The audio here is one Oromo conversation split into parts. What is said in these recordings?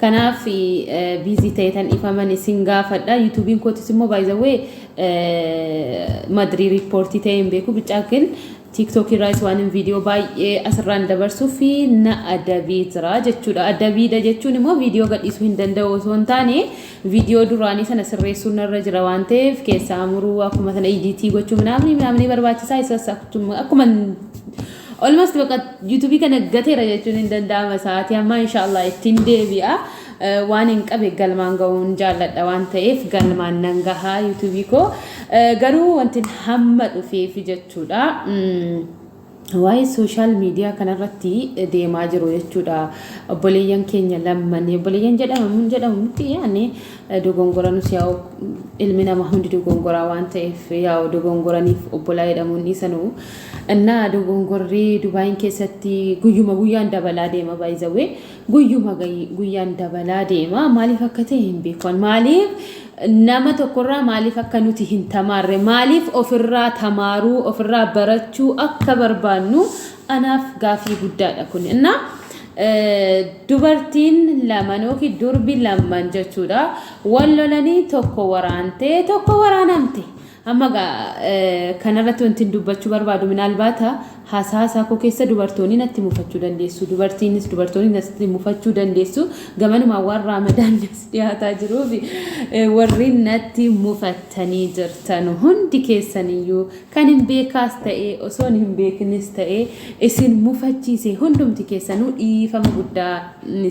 Kanaaf busy ta'etan dhifaman isin gaafadha. Yuutuubiin kootis immoo by the way madrii riippoortii ta'ee hin beeku bichaa kin tiiktookii irraas waan hin viidiyoo baay'ee asirraan dabarsuu fi na adabee jira jechuudha. Adabiidha jechuun immoo viidiyoo gadhiisuu hin danda'u osoo hin taane viidiyoo duraanii sana sirreessuun narra jira waan ta'eef keessaa muruu akkuma sana idiitii gochuu minaamni minaamni barbaachisaa isas akkuma Almost baqa YouTube kana gateera jechuun hin danda'ama sa'aatii ammaa inshallah ittiin deebi'a waan hin qabe galmaan ga'uun jaalladha waan ta'eef galmaan nan gaha YouTube koo garuu wantin hamma dhufeefi jechuudha. Mm. waa'ee sooshaal miidiyaa kanarratti deemaa jiru jechuudha. Obboleeyyan keenya lamman obboleeyyan jedhama mun jedhamu miti yaani dogongora nus yaa'u ilmi namaa hundi dogongoraa waan ta'eef yaa'u dogongoraniif obbolaa jedhamuun dhiisanuu Innaa dogongorri Dubain keessatti guyyuma guyyaan dabalaa deema by the way guyyuma guyyaan dabalaa deema maaliif akka ta'e hin beeku maaliif nama tokkorraa maaliif akka nuti hin tamaarre maaliif ofirraa tamaaruu ofirraa barachuu akka barbaannu anaaf gaafii guddaadha kun innaa dubartiin laman yookiin durbi laman jechuudha wal lolanii tokko waraantee tokko waraanamte Amma egaa kana irratti wantin dubbachuu barbaadu minaalbaata haasahaa isaa koo keessa dubartoonni natti mufachuu dandeessu dubartiinis dubartoonni natti mufachuu dandeessu gamanumaan waan raamadaan nas dhiyaataa jiruuf warri natti mufattanii jirtan hundi keessaniyyuu kan hin beekaas ta'ee osoon hin beekinis ta'ee isin mufachiise hundumti keessanuu dhiifama guddaa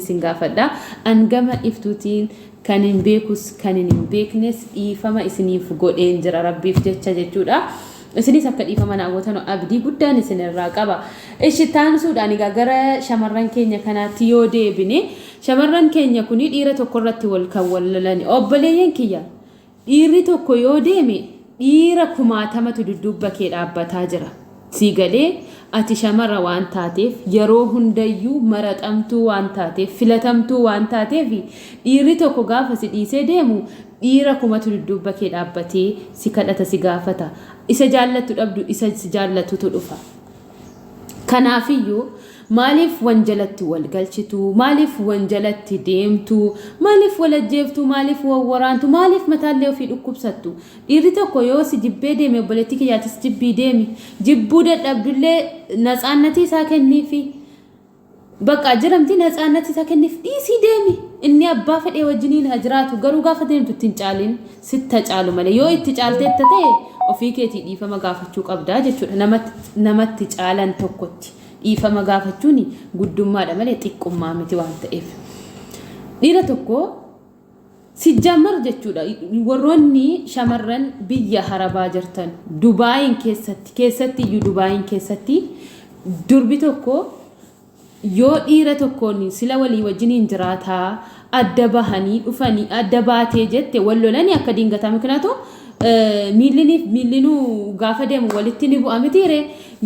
isin gaafadha an gama iftuutiin Kanin beekus kanin hin beeknes dhiifama isiniif godheen jira rabbiif jecha jechuudha. Isinis akka dhiifama naa gootanu abdii guddaan isinirraa qaba. Ishi taansuudhaan egaa gara shamarran keenya kanaatti yoo deebine shamarran keenya kun dhiira tokko irratti wal kan wal lolani obboleeyyan kiyya Dhiirri tokko yoo deeme dhiira kumaatamatu dudduubba kee dhaabbataa jira. Sii galee? Ati shamara waan taateef, yeroo hundayyuu maraxamtuu waan taateef, filatamtuu waan taateef dhiirri tokko gaafa si dhiisee deemu dhiira kumatu dudduubba kee dhaabbatee si kadhata, si gaafata. Isa jaallattu dhabdu isa si jaallatutu dhufa. Kanaafiyyuu maaliif wanjalatti wal galchitu, maaliif wanjalatti deemtu, maaliif wal ajjeeftu, maaliif wal waraantu, maaliif mataallee ofii dhukkubsattu? Dhiirri tokko yoo si jibbee deeme obboleettii kiyya atis jibbii deemi. Jibbuu dadhabdullee natsaannatii isaa kenniifi. Baqaa jedhamti natsaannat isa kennif dhiisii deemi inni abbaa fedhee wajjiniin ha jiraatu garuu gaafa deemtu itti hin caaliin sitta caalu malee yoo itti caalteetta ta'e ofii keetii dhiifama gaafachuu qabda jechuudha nama nama itti caalan tokkotti dhiifama gaafachuuni guddummaadha malee xiqqummaa miti waan ta'eef dhiira tokko Sijjamar jechuudha warroonni shamarran biyya harabaa jirtan dubaayin keessatti keessatti iyyuu dubaayin keessatti durbi tokko yoo dhiira tokkoon sila walii wajjiniin jiraataa adda bahanii dhufanii adda baatee jette wal lolanii akka diingataa mikinaatu miilliniif miillinuu gaafa deemu walitti ni bu'a mitiire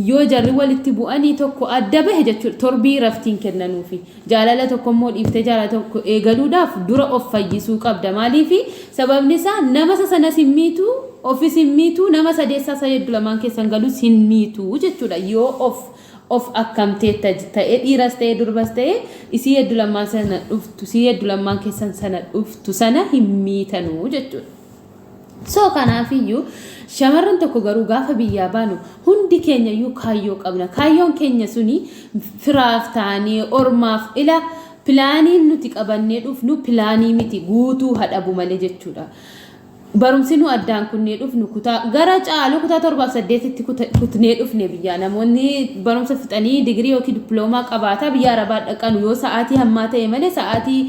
yoo jarri walitti bu'anii tokko adda bahe jechuudha torbii raftiin kennanuufi Jaalala tokko immoo dhiiftee jaalala tokko eegaluudhaaf dura of fayyisuu qabda. Maaliifi? Sababni isaa nama isa sanas hin miitu, ofis hin miitu, nama sadeessaa isa yaddu lamaan keessa hin galus hin miitu jechuudha. Yoo of of akkamteetta ta'e dhiiras ta'e durbas ta'e isii yaddu lamaan sana dhuftu, isii yaddu lamaan keessan sana dhuftu sana hin miitanu jechuudha. So kanaafiyyuu shamarran tokko garuu gaafa biyyaa baanu hundi keenyayyuu kaayyoo qabna. Kaayyoon keenya suni firaaf taanee ormaaf ila pilaaniin nuti qabannee dhufnu pilaanii miti guutuu haa dhabu malee jechuudha. Barumsi nu addaan kunnee dhufnu kutaa gara caalu kutaa torbaaf saddeetitti kuta- kutnee dhufne biyyaa namoonni barumsa fixanii digirii yookiin dippiloomaa qabaataa biyya arabaa dhaqanu yoo sa'aatii hammaa ta'e malee sa'aatii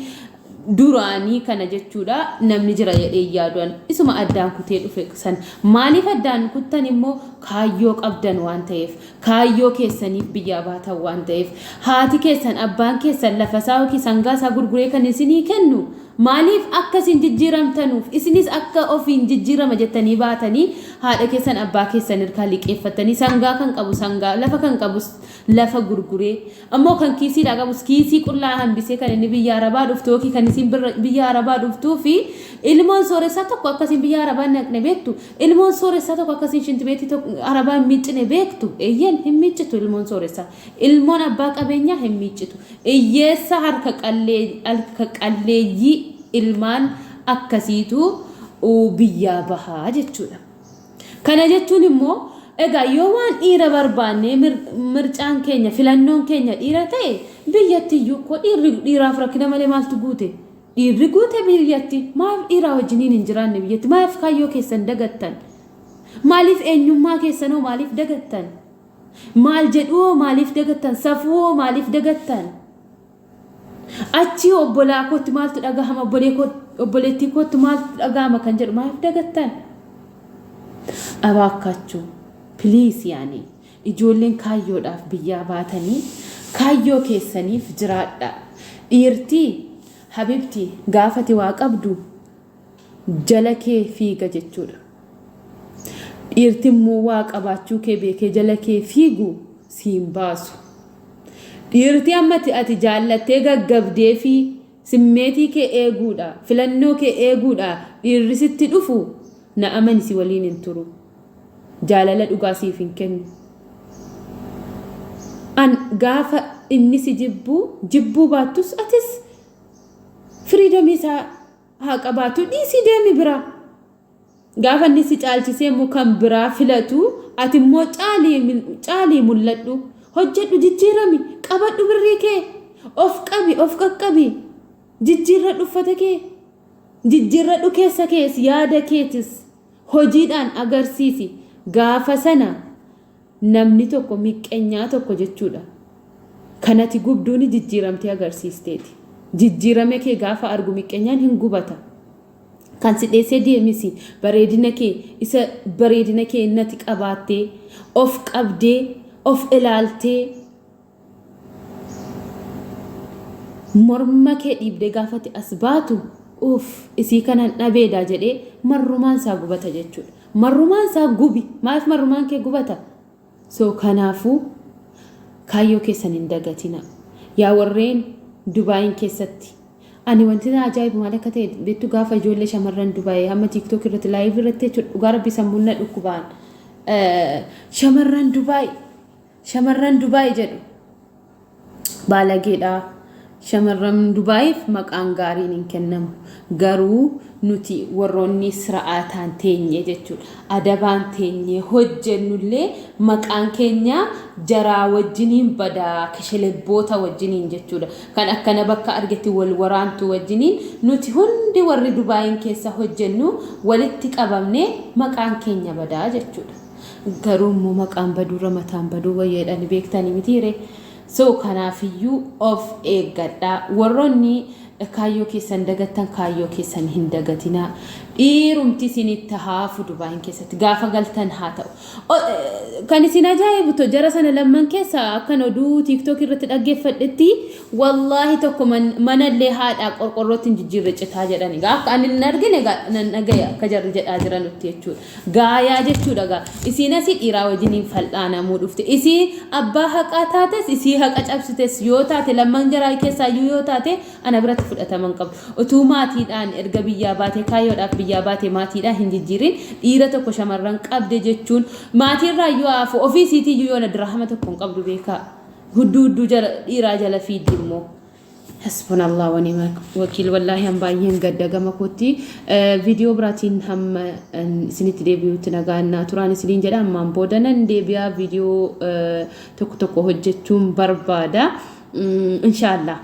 duraanii kana jechuudha namni jira jedhee yaadu an isuma addaan kutee dhufe san maaliif addaan kuttan immoo kaayyoo qabdan waan ta'eef kaayyoo keessaniif biyyaa baatan waan ta'eef haati keessan abbaan keessan lafa isaa yookiin sangaa isaa gurguree kan isinii kennu maaliif akka isin jijjiiramtanuuf isinis akka ofiin jijjiirama jettanii baatanii haadha keessan abbaa keessan irkaa liqeeffattanii sangaa kan qabu sangaa lafa kan qabus lafa gurguree Ammoo kan kiisiidhaa qabus kiisii qullaa hambisee kan inni biyya Arabaa dhuftu yookiin kan isiin biyya Arabaa dhuftuu fi ilmoon sooressaa tokko akka isiin biyya Arabaa hin dhaqne beektu? Ilmoon sooressaa tokko akka isiin shintibeetii Arabaa hin miiccine beektu? Eyyeen, hin miiccitu ilmoon sooressaa. Ilmoon abbaa qabeenyaa hin miiccitu. Iyyeessa harka qalleeyyii ilmaan akkasiitu biyyaa baha jechuudha. Kana jechuun immoo, egaa yoo waan dhiira barbaannee mir, mircaan keenya, filannoon keenya dhiira ta'e, biyyatti iyyuu koo dhiirri, dhiiraaf rakkina malee maaltu guute? Dhiirri guute biyyatti. Maaf dhiiraa wajjiniin hin jiraanne biyyatti? Maaf kaayyoo keessan dagattan? Maaliif eenyummaa keessan hoo maaliif dagattan? Maal jedhuu hoo maaliif dagattan? Safuu hoo maaliif dagattan? Achii obbolaa kootti maaltu dhagahama obboleettii kootti maaltu dhagahama kan jedhu maaf dagattan? Abaakkaachuu please yaani ijoolleen kaayyoodhaaf biyyaa baatanii kaayyoo keessaniif jiraadhaa. Dhiirtii habibtii gaafati waa qabdu jala kee fiiga jechuudha. Dhiirti immoo waa qabaachuu kee beekee jala kee fiigu si hin baasu. Dhiirti amma ati jaallattee gaggabdee fi simmeetii kee eeguudha, filannoo kee eeguudha dhiirri sitti dhufu na amani si waliin hin turu. Jaalala dhugaa siif hin kennu. An gaafa inni si jibbu jibbuu baattus atis firiidomii isaa haa qabaatu dhiisii deemi biraa. Gaafa inni si caalchisee immoo kan biraa filatu ati immoo caalii caalii mul'adhu. Hojjedhu jijjiirami qabadhu birrii kee of qabi of qaqqabi jijjiirradhu uffata kee jijjiirradhu keessa kees yaada keetis hojiidhaan agarsiisi gaafa sana Namni tokko miqqenyaa tokko jechuudha. Kan ati gubduuni jijjiiramtee agarsiisteeti. Jijjiirame kee gaafa argu miqqenyaan hin gubata. Kan si dheessee deemes bareedina kee isa bareedina kee nati qabaattee, of qabdee, of ilaaltee, Morma kee dhiibdee gaafa ati as baatu uuff isii kanan dhabeedaa jedhee marrumaan isaa gubata jechuudha. Marrumaan isaa gubi maaliif marrumaan kee gubata? So kanaafuu kaayyoo keessan hin dagatina. Yaa warreen Dubaayin keessatti ani wanti na ajaa'ibu maal akka ta'e beektu gaafa ijoollee shamarran Dubaayii hamma TikTok irratti live irratti jechuudha dhugaa rabbii sammuun na dhukkubaan shamarran Dubaayii Shamarran Dubai jedhu baalageedha. Shamarran Dubaayiif maqaan gaariin hin kennamu. Garuu nuti warroonni sira'aataan teenyee jechuudha. Adabaan teenyee hojjennullee maqaan keenya jaraa wajjiniin bada keshelebboota wajjiniin jechuudha. Kan akkana bakka argetti wal waraantu wajjiniin nuti hundi warri Dubaayiin keessa hojjennu walitti qabamne maqaan keenya bada jechuudha. Garuu immoo maqaan baduurra mataan baduu wayya jedhani beektani mitii ree? So kanaafiyyuu of eeggadhaa. Warroonni kaayyoo keessan dagattan kaayyoo keessan hin dagatinaa. Dhiirumti isinitti haafu Dubaayin keessatti gaafa galtan haa ta'u. O- eh, Kan isin ajaa'ibu to jara sana lamman keessa akkan oduu tiiktook irratti dhaggeeffadhetti wallaahi tokko man- manallee haadhaa qorqorrootti hin jijjiirre citaa jedhani. Egaa Akka ani hin argine egaa nan dhagaya akka jarri jedhaa jiranutti jechuudha. Gaayaa jechuudha gaa. Isiin asii dhiiraa wajjin hin fal'aanamuu dhufte. Isii abbaa haqaa taates isii haqa cabsites yoo taate lamman jaraa keessaayyuu yoo taate ana biratti fudhatama hin qabdu. Utuu maatiidhaan erga biyyaa baatee kaayyoodhaaf biyyaa baate maatiidhaa hin jijjiirin dhiira tokko shamarran qabde jechuun maatiirraayyuu haa hafu ofii isiitiiyyuu yoona diraahama tokko hin qabdu beekaa. Hudduu hudduu jala dhiiraa jala fiigdi immoo. Hasbunallah wa ni'mal wakiil wallaahi an baay'een gadda gama kootti viidiyoo biraatiin hamma isinitti deebi'utti nagaan naa turaan isiniin jedha ammaan booda nan deebi'a viidiyoo tokko tokko hojjechuun barbaada inshaallah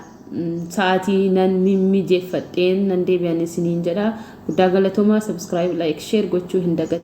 sa'aatii nan mimmijeeffadheen nan deebi'an isiniin jedha guddaa galatoomaa sabiskiraayib laayik sheer gochuu hin dagatinaa.